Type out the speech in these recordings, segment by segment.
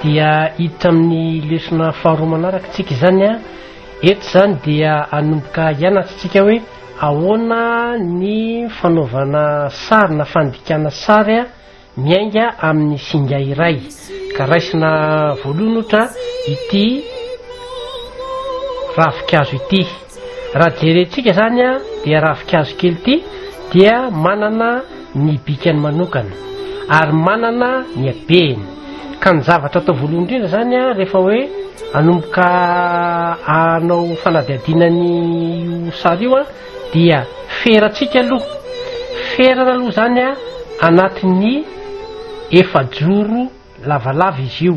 dia hiditra amin'ny lesona faharoa manaraka tsika izany a eto izany dia anomboka hianatra tsika hoe ahoana ny fanaovana sary na fandikana sary a miainga amin'ny singa iray ka raisina voalohany ohatra ity ravikazo ity Raha jerentsika izany dia ravinkazo kely ity dia manana ny bikany manokana ary manana ny habehiny ka ny zavatra atao voalohany indrindra izany rehefa hoe anomboka anao fanadihadiana ny io sary io dia ferantsika aloha ferana aloha izany anatin'ny efajoro lavalava izy io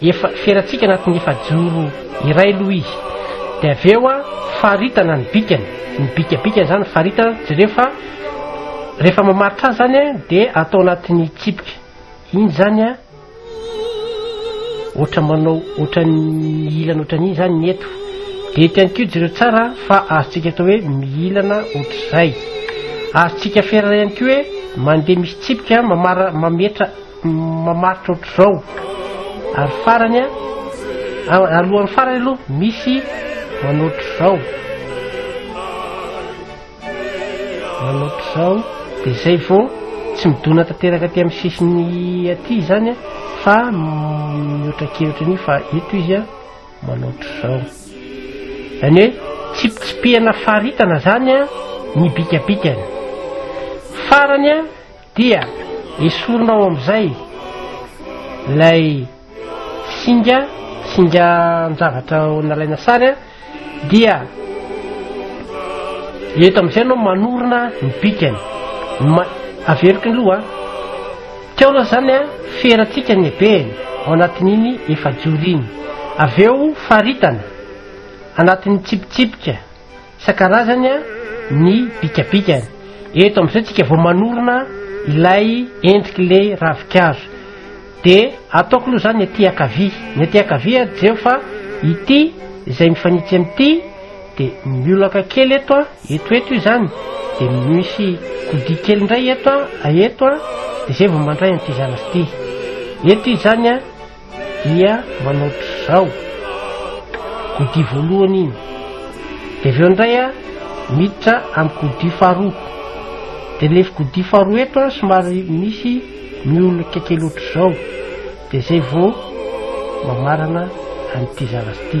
Efa ferantsika anatin'ny efajoro iray aloha izy, dia avy eo faritana ny bikany, ny bikabikany izany faritana, jereo fa rehefa mamaritra azy izany dia atao anatin'ny tsipika, iny izany a, ohatra manao ohatra ny ilana ohatra ny izany ny eto, dia eto ihany koa jereo tsara fa azontsika atao hoe mihilana ohatr'izay, azontsika ferana ihany koa hoe mandeha misy tsipika mamara mametra mamaritra ohatr'izao ary farany a alohan'ny farany aloha misy manoatr'izao manoatr'izao de zay vo tsy midona tanteraka aty amin'ny sisiny aty zany a fa mihoatra kevitra an'io fa eto izy a manoatr'izao zany hoe tsipitsipihana faritana zany a ny bikabikany farany a Dia esorinao amin'izay ilay singa singa an-javatra nalaina sary a dia eto amin'izay anao manorina ny bikany ma averiko ny loha teo aloha zany a ferantsika ny ebehany ao anatin'iny efa-joro iny avy eo faritana anatin'ny tsipitsipika Isan-karazany ny bikabikany. Eto amin'izao tsika vao manorina ilay endrik'ilay ravin-kazo. Dia ataoko aloha izany ny aty ankavia. Ny aty ankavia jereo fa ity izay mifanitsy amin'ity dia miolaka kely eto a, eto eto izany. Dia misy kodia kely indray eto a, eto a, dia izay vao mandray an'ity zanak'ity. Eto izany a, dia manao trizao godia voalohany iny de avy eo indray a miditra amin'ny godia faharoa de le godia faharoa eto a somary misy miolika kely ohatr'izao de zay vao mamarana an'ity zavatra ity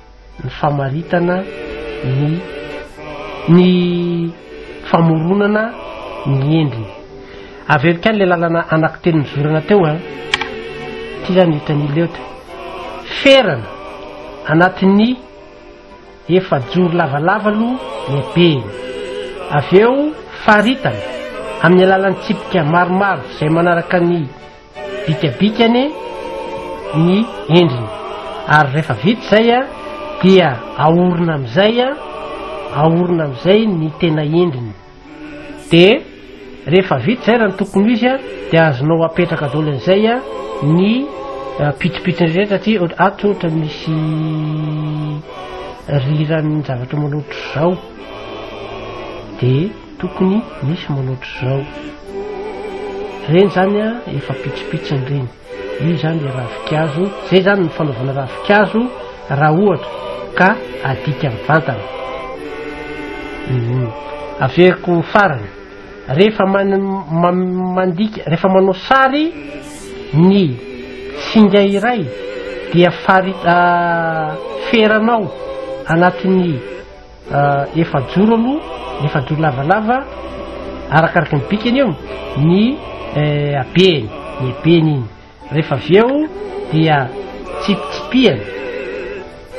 ny famaritana ny ny famoronana ny endriny. Averiko any le lalana anaky teny nizorana teo an. Ty zany hitan'i Leo teo. Ferana anatin'ny efajoro lavalava aloha lehibeny. Avy eo faritana amin'ny alalan'ny tsipika maromaro izay manaraka ny bikabikany ny endriny ary rehefa vita izay a dia aorina amin'izay a aorina amin'izay ny tena endriny de rehefa vita izay raha ny tokony ho izy a dia azonao apetraka daholo an'izay a ny eh, pitsopitsony rehetra aty ohatra- ato ohatra misy riran'ny zavatra manao ohatr'izao de Tokony misy manao otrzao. Reny zany a efa pitsipitsiny reny. Io zany le ravikazo. Zay zany ny fanaovana ravikazo raha ohatra ka adika mivantana. Mhm. Averiko farany. Rehefa man, man, mandika, rehefa manao sary ny singa iray dia fari, ah, feranao anatin'ny Efajoro aloha, efajoro lavalava, arakaraka ny bikany eo ny eh, abeny, ny ebeny iny. Rehefa avy eo dia tsipitsipihana,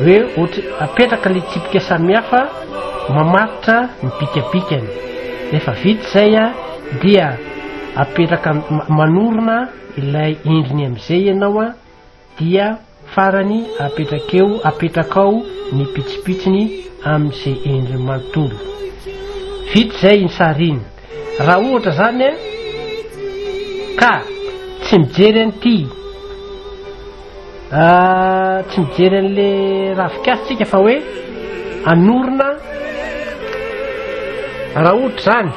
hoe ohatra apetraka le tsipika samihafa mamaritra ny bikabikany. Rehefa vita izay a, dia apetraka manorina ilay endriny amin'izay ianao a, Dia farany apetrakeo apetrakao ny pitsipitsiny amin ze endriny manontolo. Vita izay iny sary iny. Raha ohatra zany an ka tsy mijery an'ity ah, tsy mijery an'le ravikasy tsika fa hoe anorina raha ohatra zany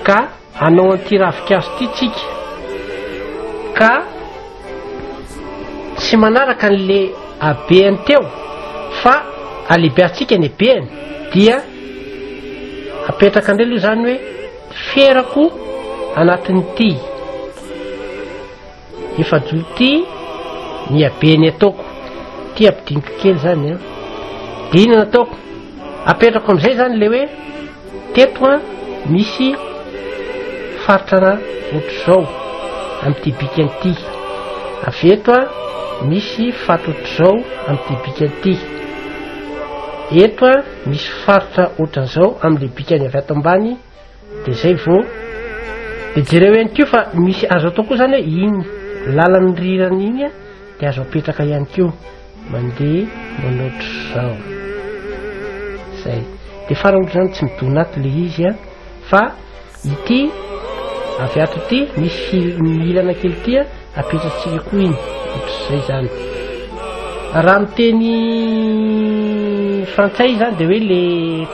ka Hanao an'ity ravinkazo ity tsika ka tsy manaraka an'le habeany teo fa alebeantsika ny habeany dia apetraka indray aloha izany hoe ferako anatin'ity Efa jour ty miha be ny ataoko ty ampidiniko kely zany an de ina nataoko apetrako amizay zany le hoe teto an misy faritra ra otrzao amity bika nty avy eto an misy faty otrzao amity bika nty eto an misy faritra otranzao amle bikany avy ato ambany Dia izay vao. Dia jereo ihany koa fa misy azo atao koa izany hoe iny lalan'ny rirany iny dia azo apetraka ihany koa mandeha manao ohatr'izao. Izay. Dia farany ohatr'izany tsy midona ato ilay izy a fa ity avy ato ity misy fil- ny ilana kely ity a Apetratsika koa iny ohatr'izay zany raha miteny frantsay zany de hoe le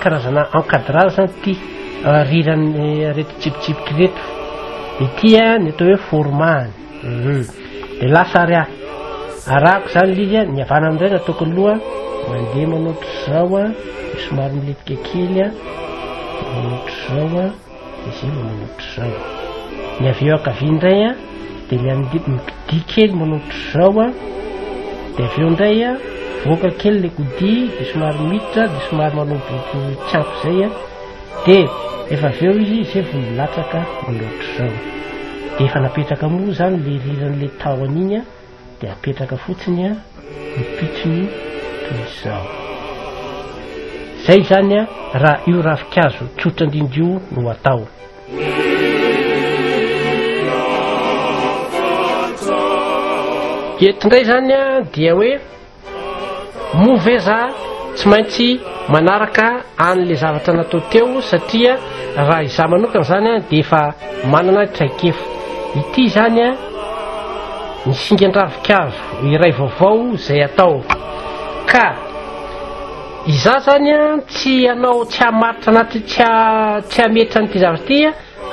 karazana encadrage zany ty riran'ny reto tsipitsipiky reto ity a ny atao hoe formahany mhm. de lasa ary a arako zany le izy a ny avana amindray ny ataoko aloha mandeha manoatra zao a somary miletika kely a manoatra zao a Izay manao ohatr'izao. Ny avy eo ankavia indray a, dia ny amin'ny biby mikidia kely manao ohatr'izao a, dia avy eo indray a, voaka kely ilay kodia, dia somary miditra, dia somary manao boribory tsy ampy izay a, dia efa avy eo izy izay vao milatsaka manao ohatr'izao. Dia efa napetraka moa izany ilay riran'ilay tahony iny a, dia apetraka fotsiny a ny pitsony toy izao zay izany a raha io rafikazo tsotra indrindra io no atao eto indray zany a dia hoe Moa ve za tsy maintsy manaraka an'le zavatra natao teo satria raha izaho manokana zany a dia efa manana traikefa ity zany a ny singan-dravinkazo iray vaovao izay atao ka izaho zany a tsy anao tsy hamaritra anaty tsy tsy hametra an'ity zavatra ity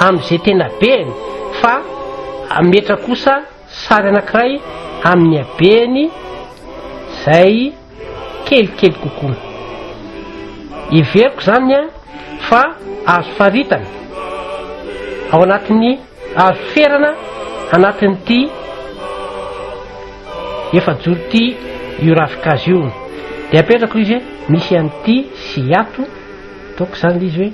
amin'izay tena beny fa ametra kosa Sary anankiray amin'ny habeny izay kelikely kokoa. Heveriko izany fa azo faritana ao anatin'ny azo ferana anatin'ity efajoro ity io ravinkazo io. Dia apetrako izy hoe misy an'ity sy ato, ataoko izany ilay izy hoe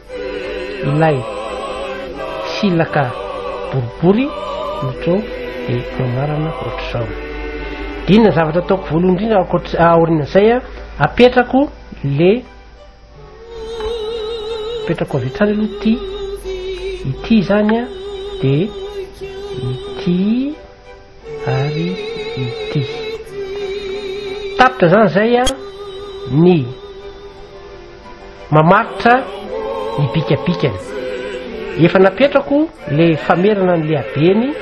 ilay silaka boribory no to de anarana ohatr'izao dina zavatra ataoko voalohany indrindra ankoatr- aoriana zay a apetrako le apetrako avy hatrany aloha ty ity zany a de ity ary ity. Tapitra zany zay a ny mamaritra ny bikabikany. Efa napetrako le famerana ny lehabeny,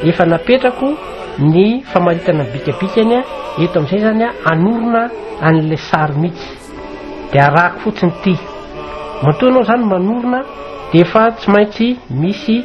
efa napetrako ny famaritana ny bikabikany a, eto am'izay zany a anorina an'le sary mihitsy. De arahako fotsiny ty. Matoa anao zany manorina de efa tsy maintsy misy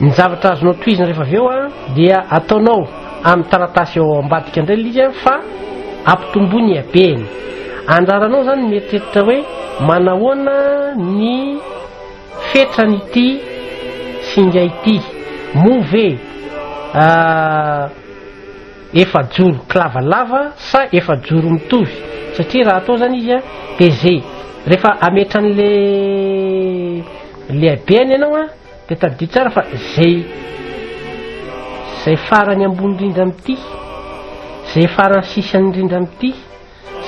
Ny zavatra azonao tohizina rehefa avy eo dia ataonao amin'ny taratasy eo ambadika indray ilay izy fa ampitomboy ny habeny. Andraranao izany mieritreritra hoe manahoana ny fetran'ity singa ity. Moa ve ah, efa joro kilavalava sa efa joro mitovy? Satria raha atao izany izy dia ze rehefa ametran'le le habeny ianao Dia tadidio tsara fa zay zay farany ambony indrindra amin'ity, zay farany sisany indrindra amin'ity,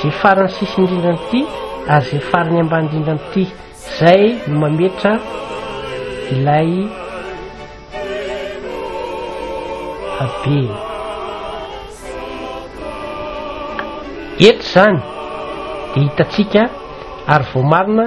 zay farany sisany indrindra amin'ity ary zay farany ambany indrindra amin'ity. Zay no mametra ilay habe. Eto zany dia hitantsika ary voamarina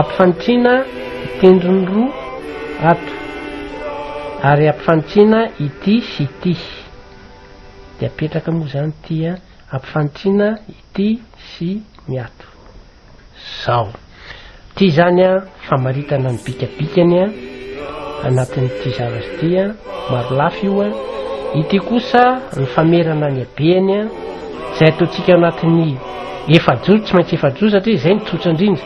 Ampifanitrina i tendrony roa ato ary ampifanitrina ity sy ity de apetraka moa zany ity a, ampifanitrina ity sy ny ato zao, ity zany a famaritana ny bikabikany a. anatin'ity zavatra ity a marolafy io a ity kosa ny famerana ny abeany a zay ataontsika anatin'ny efajoro tsy maintsy efajoro satria izay ny tsotra indrindra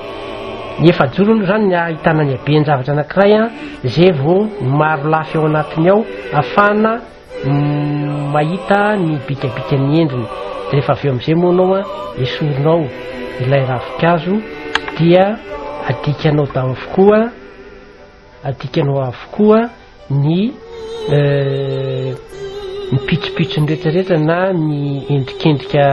ny efajoro aloha zany ny ahitana ny abeany zavatra anankiray a zay vao ny marolafy ao anatiny ao afana mm, mahita ny bikabika ny endriny de rehefa avy eo am'izay moa anao a esorinao ilay ravikazo dia adikanao davokoa adikanao avokoa ny eh, ny pitsopitsony rehetrarehetra na ny endrikendrika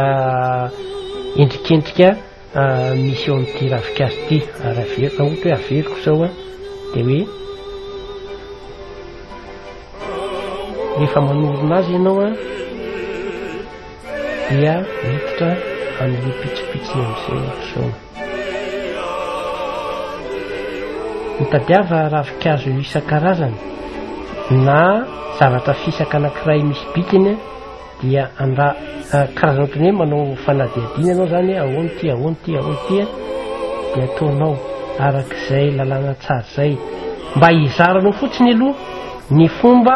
endrikendrika ah, misy eo amin'ity ravinkazo ity ary averiko na ohatra hoe averiko zao a dia hoe rehefa manorona azy ianao a dia miditra amin'ny pitsopitsony amin'izay zao Mitadiava ravinkazo isan-karazany na zavatra fisaka anankiray misy bikiny dia anda karazana ohatry ny hoe manao fanadihadiana ianao izany hoe ahoana ity ahoana ity ahoana ity dia ataonao arak'izay lalàna tsara izay mba hizaranao fotsiny aloha ny fomba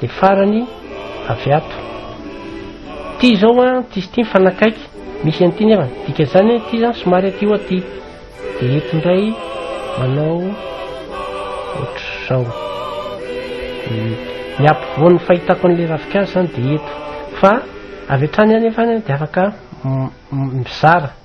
Dia farany avy ato. Ity izao an, ity sy ity mifanakaiky. Misy an'ity nefa. Dika izany ity izany somary aty ho aty. Dia eto indray manao ohatr'izao. Ny ampovoan'ny fahitako an'ilay ravinkazo izany dia eto. Fa avy hatrany anefa dia afaka mizara.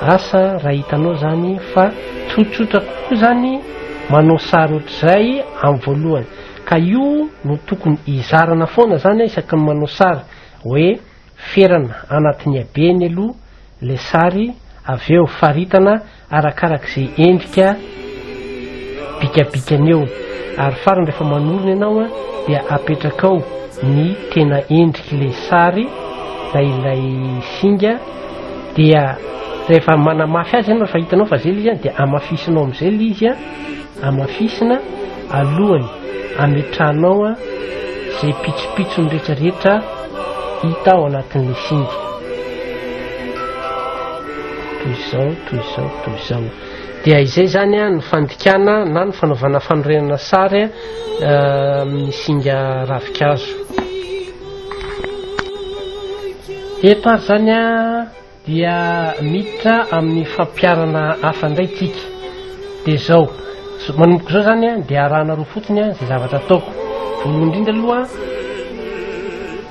Asa raha hitanao zany fa tsotsotra kokoa zany manao sary ohatr'izay amin'ny voalohany ka io no tokony hizarana foana zany isaky ny manao sary hoe ferana anatin'ny habeny aloha le sary avy eo faritana arakarak'izay endrika bikabikany eo ary farany rehefa manorina ianao a dia apetrakao ny tena endrik'ilay sary na ilay singa dia rehefa manamafy azy ianao rehefa hitanao fa zay le izy any dia amafisinao am'izay le izy a amafisina alohany ametrahanao a zay pitsopitsony rehetrarehetra hita ao anatin'le singa toy izao toy izao toy izao dia izay zany a ny fandikana na ny fanaovana fanorenana sary a eh, amin'ny singa ravikazo eto ary zany a dia miditra amin'ny fampiarana hafa indray tsika dia zao manomboka izao zany a dia arahanareo fotsiny a izay zavatra ataoko voalohany indrindra aloha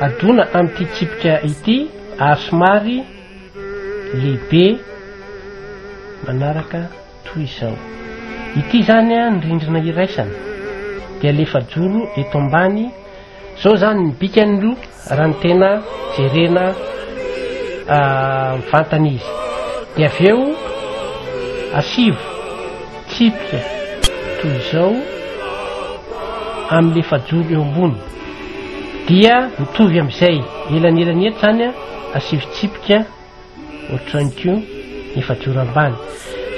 Adona amin'ity tsipika ity ary somary lehibe manaraka toy izao. Ity izany ny rindrina iraisana dia alefa joro eto ambany. Izao izany ny bikany aloha raha ny tena jerena mivantana izy. Dia avy eo asivo tsipika toy izao amin'ny lefajoro eo ambony. Dia mitovy amin'izay elanelany eto izany an, asio fitsipika ohatran'ny koa efajoro ambany.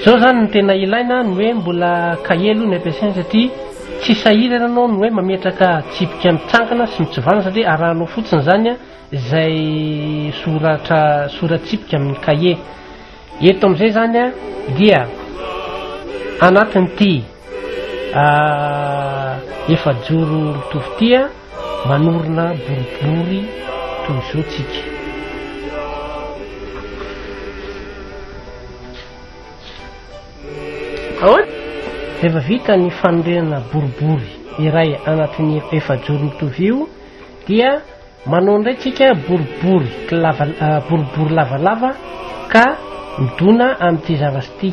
Izao izany ny tena ilaina ny hoe mbola kahie aloha ny ampiasaina satria tsy sahirana ianao ny hoe mametraka tsipika mitsangana sy mitsovana satria arahanao fotsiny izany an, izay soratra soratsipika amin'ny kahie. Eto amin'izay izany an, dia anatin'ity. efajoro mitovy tia manorina boribory toy izao tsika rehefa vita ny fanorenana boribory iray anatin'ny efajoro mitovy io dia manao indray tsika boribory boribory lavalava ka midona amin'ity zavasy ity